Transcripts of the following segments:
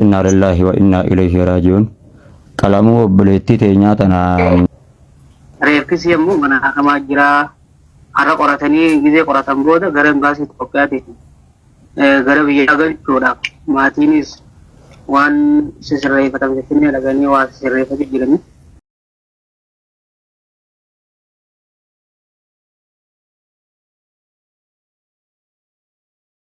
Innaa lillaahi wa innaa ilayhi raaji'uun. Qalamuu obboleettii teenyaa tanaan. Reeffisi ammoo mana hakamaa jira. Har'a qoratanii gizee qoratan booda gara imbaasii Itoophiyaatiin eh, gara biyyaa galchuudhaaf maatiinis waan sisirreeffatan finfinnee dhaqanii waa sisirreeffatu jiranii.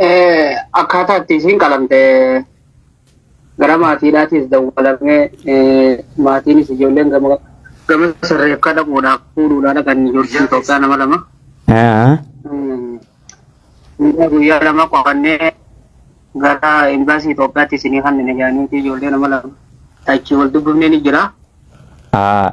Eh, akkaataa itti isiin qalamte gara maatiidhaatis dawwalamee eh, maatiinis ijoolleen gama gama sirreef kadhamuudhaaf fuudhuudhaa dhaqan ijoolleen Itoophiyaa nama lama. Haa. Mm. Guyyaa guyyaa lama qorannee gara imbaasii Itoophiyaatti isinii kanneen ijaaniiti ijoollee nama lama. Achi wal dubbifnee ni jira. Haa.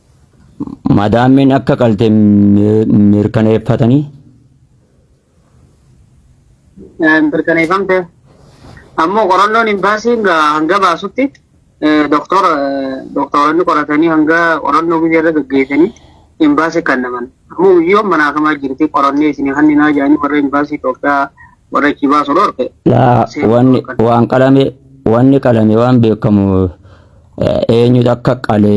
Madaammiin akka qalte mirkaneeffatanii? Mirkaneeffamte. Ammoo qorannoon imbaasii hanga baasutti doktora doktoranni qoratanii hanga qorannoo biyya irra gaggeessanii imbaasii kan naman. Ammoo biyyoon manaakamaa jirti qorannee isinii hanninaa jedhanii warra imbaasii Itoophiyaa warra achii baasu dhorke. Laa seerri wanni dhorkan. waan qalame wanni qalame waan beekamu eh, eenyutu akka qale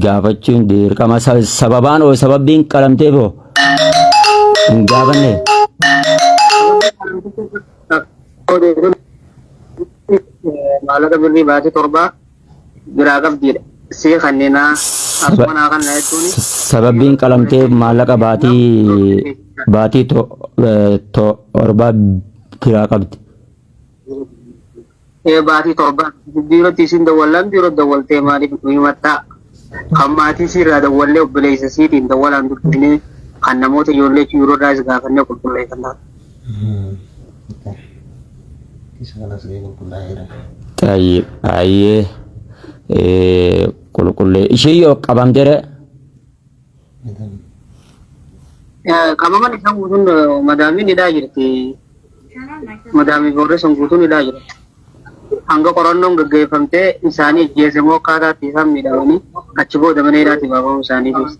gaafachuun dirqama Sa- sababaan oo sababbiin qalamteef oo hin gaafanne Maallaqa birrii baatee torbaa biraa qabdiidha. Sii kannina akkuma naa kanna jechuun Sababiin qalamtee maallaqa baatii baatii to- eh, torbaa biraa qabdi. ee baatii torba biirootti isin dawwallaan biiroo dawwaltee maaliif nu himattaa? Kan maatii siirraa dawwallee obboleessa siitiin dawwalaan dubbifnee kan namoota ijoollee biiroodhaas gaafannee qulqulleeffannaa. Tayyib ayyee qulqullee ishee yoo qabamtere Qabaman isaan guutuun madaamiin hidhaa jirti. Madaamii boorreessan guutuun hidhaa jira. Hanga qorannoon gaggeeffamtee isaanii ajjeese moo akkaataatti isaan miidhamanii achi booda mana hidhaatii baafamuu isaanii keessa.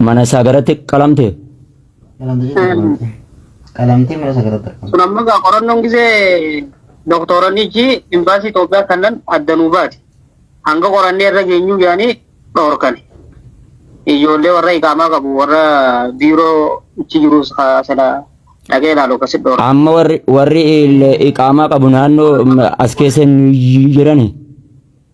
Mana isaa garatti qalamte. Qalamtee mana isaa garatti argamte. Kun ammoo egaa qorannoon gisee doktoroonnichi imbaasii Itoophiyaa kannan adda nuu baate. Hanga qorannee irra geenyuu yaanii dhorkan. Ijoollee warra iqaamaa qabu warra biiroo ichi jirus sana dhagee ilaalu akkasitti dhorkan. Amma warri warri il- iqaamaa qabu naannoo mm, as keessa hin jirani.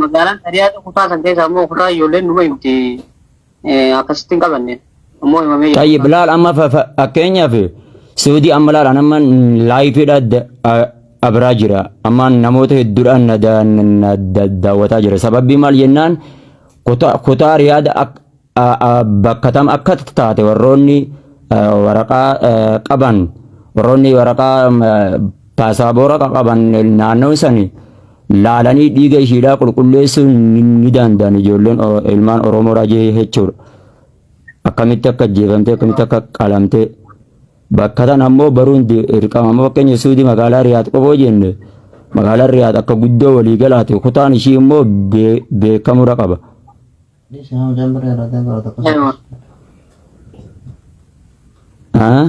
Magaalaan Tariyaatu kutaa san keessa ammoo kutaa ijoolleen numa himti akkasitti hin qabanne ammoo himamee jira. Tayyib laal amma fa- fa- fakkeenyaaf suudii amma laal an amma laayifiidha da- a- abraa jira amma namoota hedduudhaan na da- na da- daawwataa jira sababii maal jennaan kutaa kutaa riyaada ak- bakka tam akka taate warroonni waraqaa qaban warroonni waraqaa paasaabora qaban naannoo sani laalanii dhiiga ishiidhaa qulqulleessuu ni danda'an ijoolleen ilmaan Oromoo raajee jechuudha. Akkamitti akka ajjeefamtee akkamitti akka qalamtee bakka tan ammoo baruun dirqama ammoo fakkeenya suudii magaalaa Riyaad qofoo jenne magaalaa Riyaad akka guddoo walii galaate kutaan ishii immoo beekamuu qaba. Haa?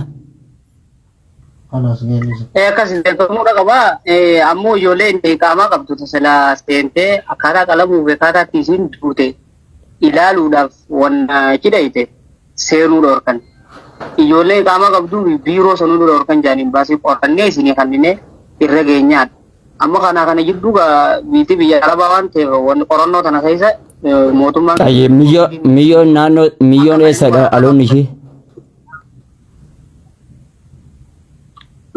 Eh, akkas hin beekamuu dha qaba. Eh, ammoo ijoolleen beekamaa qabdu tasila seentee akkaataa qalamuu fi akkaataa itti isiin duute ilaaluudhaaf wan cidhayte seenuu dhorkan. Ijoollee qaamaa qabduu fi biiroo sanuu dura dhorkan jaaniin baasii qorannee isinii kannine irra geenyaadha. Amma kana kana jidduu gaa biitti biyya arabaa waan ta'eef wanni qorannoo tana keessa eh, mootummaan Ayyee miyyoon miyyoon naannoo miyyoon eessadha dhaloonni ishee?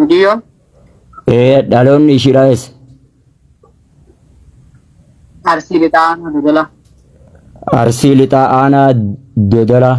biyyoon Ee dhaloonni ishiidha eessa? arsii lixaa dodolaa. Arsii lixaa aanaa dodolaa.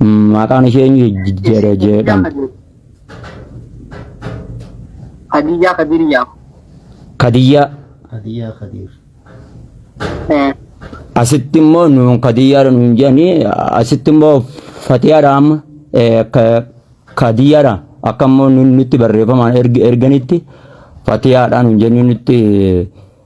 Maqaan ishee eenyu jedhe jedhamti? Hadiyyaa Kadiriyyaa. Kadiyyaa. Hadiyyaa Kadiir. Asitti immoo nuun kadiyyaadha nuun jedhanii asitti immoo fatiyaadha amma eh, ka- kadiyyaadha akka immoo nu- nutti barreeffamaan erg- erganitti fatiyaadha nuun jennee nutti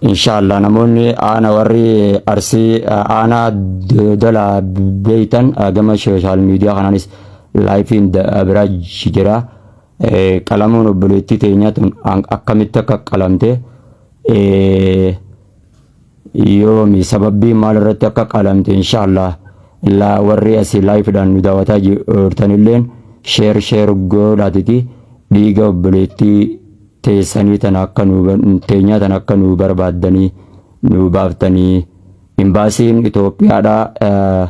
Inshallah namoonni aana warri arsii aanaa dodola beeytan gama social media kanaanis laayifiin biraa jira qalamuun obboleettii teenyaa tun akkamitti akka qalamte yoomi sababbii maal irratti akka qalamte inshallah laa warri asii laayifidhaan nu daawwataa jirtanilleen sheer sheer godhaatiti dhiiga obboleettii teessanii tana akka nuu teenyaa tana akka nuu barbaaddanii nuu baaftanii imbaasiin Itoophiyaadhaa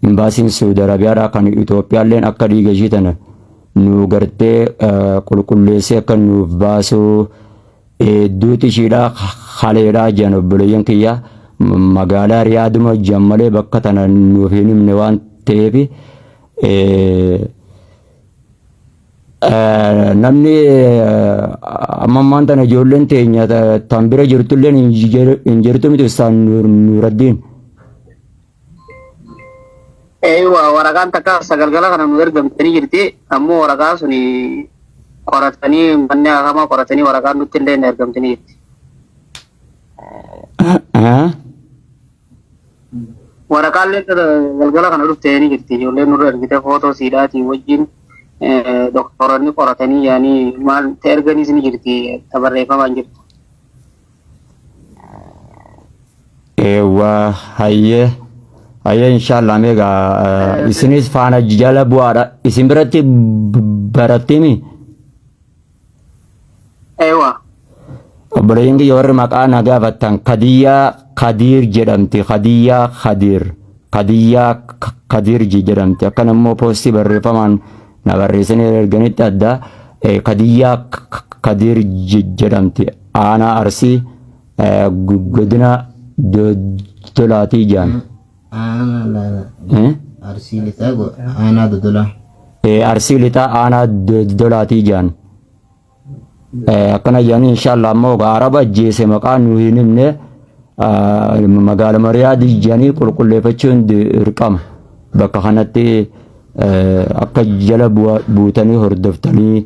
imbaasiin Saudi Arabiyaadhaa kan Itoophiyaalleen akka dhiiga ishii tana nuu gartee qulqulleessee akka nuuf baasuu hedduuti ishiidhaa haleedhaa jiran obboleeyyan kiyyaa magaalaa riyaaduma jiran malee bakka tana nuuf hin himne waan ta'eef Namni amma ammaan tana ijoolleen teenya tan bira jirtu illee hin jirtu miti Ustaaz Nuuraddiin. Eeywa waraqaan takka sagalgala kana nu ergamtanii jirti ammoo waraqaan sun qoratanii manni hakamaa qoratanii waraqaan nutti illee hin ergamtanii jirti. Waraqaallee galgala kana dhufte ni jirti ijoolleen nurra ergite footoo siidhaatii wajjin doktooronni qoratanii yaanii maal ta erganiis ni jirti ta barreeffamaan jirtu. Eewwaa hayyee hayyee inshaallah meegaa isinis faana jala bu'aadha isin biratti barattiimi. Ewa. Obboleeyyiin kiyya warri maqaa na gaafattan Kadiyyaa Kadiir jedhamti. Kadiyyaa Kadiir. Kadiyyaa K- Kadiir ji- jedhamti. Akkan immoo poostii barreeffamaan na barreessanii erganitti adda eh, Kadiyyaa K- K- Kadiir ji- jedhamti. Aanaa Arsii eh, gu- godina Do- Dolaatii jedhan. Aanaa laala. Eh? Arsii lixaa go- aanaa dodolaa. Eh, arsii lixaa aanaa dodolaatii jaan Eh, akkana jaanii inshaallah ammoo egaa araba ajjeese maqaa nu hin himne ah, magaala mariyaadii jaanii qulqulleeffachuun dirqama bakka kanatti eh, akka jala bu'a- buutanii hordoftanii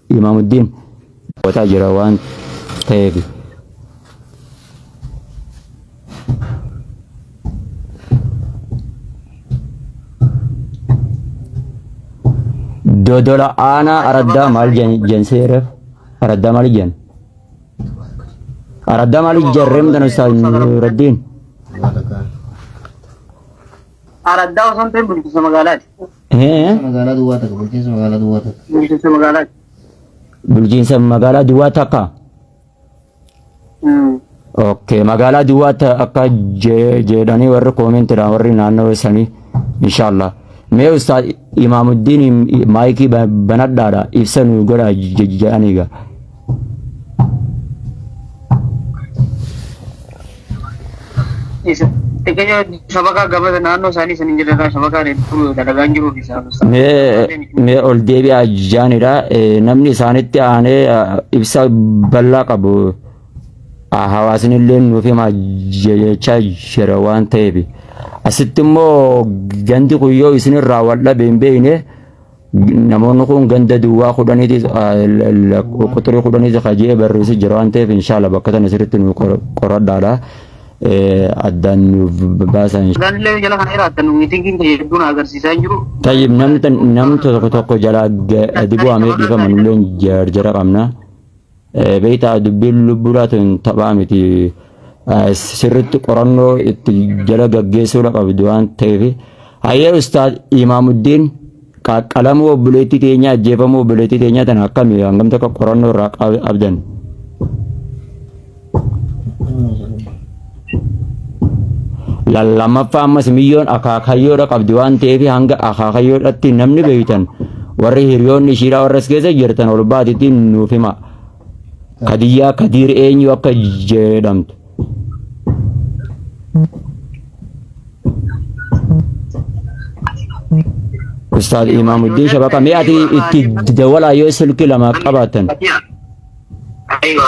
Imaamuddin wataa jira waan ta'eefi. Dodola aanaa araddaa maal jensee reef araddaa maal jen araddaa maal ijarree mudan ustaaz Nuraddiin. Araddaa osoo hin ta'in bulchiinsa magaalaati. Bulchiinsa magaalaa duwwaa takka. Bulchiinsa magaalaa duwwaa takka. Bulchiinsa magaalaati. Bulchiinsa magaalaa duwwaa takka. Mm. Okay, magaalaa duwwaa ta- akka je- jedhanii warri koomentiidhaan warri naannoo sanii inshaallah. Mee ustaad Imaamuddin maayikii ba- banadhaadha ibsa nu godha je- jedhaniiga. Xiqqeesha shabakaa gabasa naannoo isaanii sanii jirarraa shabakaa reebbuu dalagaan jiruu fi saafus. Mee ol deebi'aa jaanidha. Namni isaanitti aanee ibsa bal'aa qabu hawaasni illee nuuf himaa jechaa jira waan ta'eef. Asitti immoo gandi kun yoo isinirraa wal dhabe hin beekne Namoonni kun ganda duwwaa kudhaniiti quxurii kudhaniiti ka jee barreessi jira waan ta'eef inshaalla bakka tana sirriitti nu qoradhaadha. Addaan nuuf baasaa inshaalla. Gaazillee jala kana irraa adda nu miitingiin kee hedduun agarsiisaa hin jiru. Tayyib namni tokko tokko jalaa gadi bu'amee dhiifama nulleen jarjara qabna. Beektaa dubbiin lubbuu laatuun taphaa miti. Sirriitti qorannoo itti jala gaggeessuu qabdu waan ta'eef. Hayyee Ustaaz Imaamuddiin qaqqalamuu obboleettii teenyaa ajjeefamuu obboleettii teenyaa tana akkami hangam takka qorannoo irraa qabdan. Lammaffaa ammas miyyoon akaakayyoodha qabdi waan ta'eef hanga akaakayyoodhatti namni beektan warri hiriyoonni ishiidhaa warras keessa jirtan ol baatittiin nuuf hima. Kadiyyaa kadiir eenyu akka jedhamtu. Ustaad Imaamuddin Shabaqa mee ati itti dawalaa yoo silki lama qabaatan. Aywa.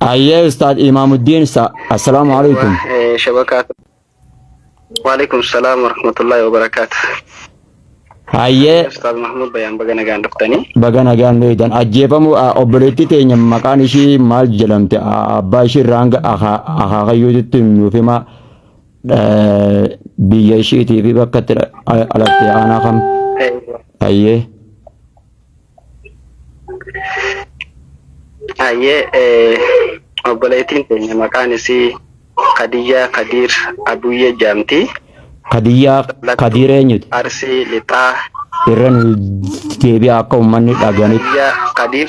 Ayyee Ustaad Imaamuddin Sa- Assalaamu alaikum. Eh, shabakaa waalaikum salaam warahmatullahi wabarakaatu Ayyee ustaaz mahmud bayaan baga nagaan dhuftanii baga nagaan beeydan ajjeefamuu a- obboleettii teenya maqaan ishii maal jedhamte A- abbaa ishii irraa hanga akaakayyuutti nuuf himaa Biyya ishiitii fi bakka itti dhalatte aanaa kam? Ayyee. Ayyee obboleettiin keenya maqaan isii Kadiyyaa Kadiir Abuyyee jedhamti. Kadiyyaa Kadiir eenyuti? Arsii Lixaa. Irra nu deebi'a akka uummanni dhaganitti. Kadiyyaa Kadiir.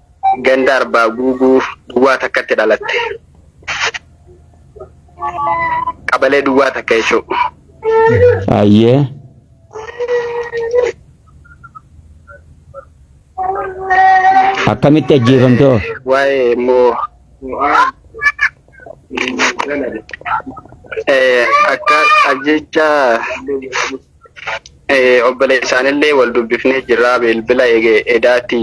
Ganda Arbaa Guuguu duwwaa takkatti dhalatte. Qabalee duwwaa takka jechuudha. Ayyee. Akkamitti ajjeefamte hoo? Waa'ee immoo eh, akka ajjecha obboleessaanillee wal dubbifnee jirra bilbila edaati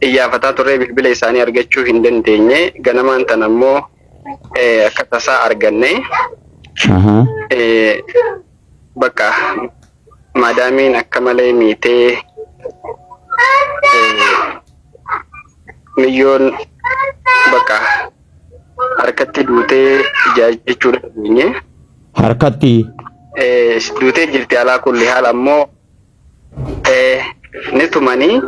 iyyaafataa turree bilbila isaanii argachuu hin dandeenye ganamaan tan ammoo akka tasaa arganne bakka maadaamiin akka malee miitee miyyoon bakka harkatti duutee jaajjechuu dhageenye. harkatti. duutee jirti alaa kulli haal ammoo ni tumanii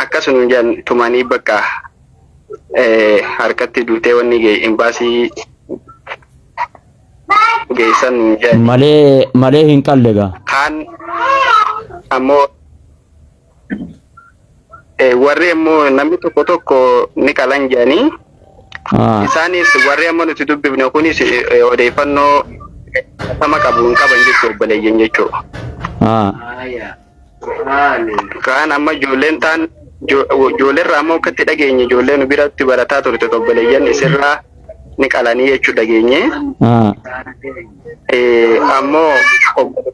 akkasuma jedhan tumanii bakka harkatti duutee wanni imbaasii geessan jedhan. malee malee hin qalle gaa. kaan ammoo Eh, warri immoo namni tokko tokko ni qalan jedhanii Ah. isaanis warri amma nuti dubbifne kunis eh, odeeffannoo sama qabu hin qaban jechuu obboleeyyan jechuu Ah. kaan amma ijoolleen taan ijo- ijoolleerraa ammoo akkatti dhageenye ijoollee nu biratti barataa turte obboleeyyan isirraa ni qalanii jechuu dhageenye Ah. Eh, ammoo obbo-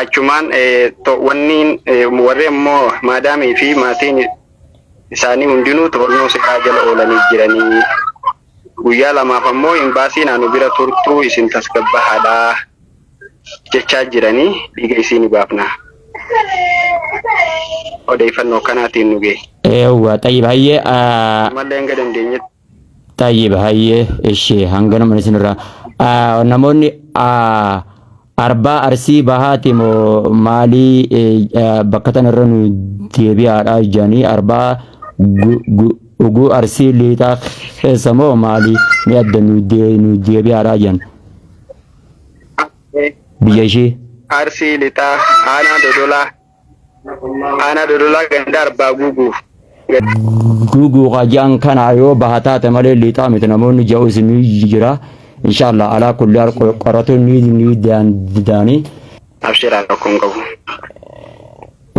achumaan wanni warri ammoo maadaamii fi maatiin isaanii hundinuu to'annoo seeraa jala oolanii jiranii guyyaa lamaaf ammoo imbaasii naannoo bira turtuu isin tasgabbahaadhaa jechaa jiranii dhiiga isii ni baafna odeeffannoo kanaatiin nu ga'e. Yawwa xayyib hayyee. Mallee hanga dandeenyetti. Tayyib hayyee ishee hanganuma isinirraa Ah, namoonni ah, arbaa arsii bahaati moo maalii eh, ah, bakka tanarra nu deebi'aadha jedhanii arbaa gu- gu- uguu arsii liixaa keessa moo maalii ni adda nu dee- nu deebi'aadha jedhan biyya ishee. Arsii lixaa aanaa dodolaa Aanaa Dodolaa ganda Arbaa Guuguuf. Guuguu qaji'an kana yoo baha taate malee liixaa miti namoonni ja'u isinii jira. Inshaallah alaa kulli al qoratuun ni ni daanda'anii. Abshiraa rakkoon qabu.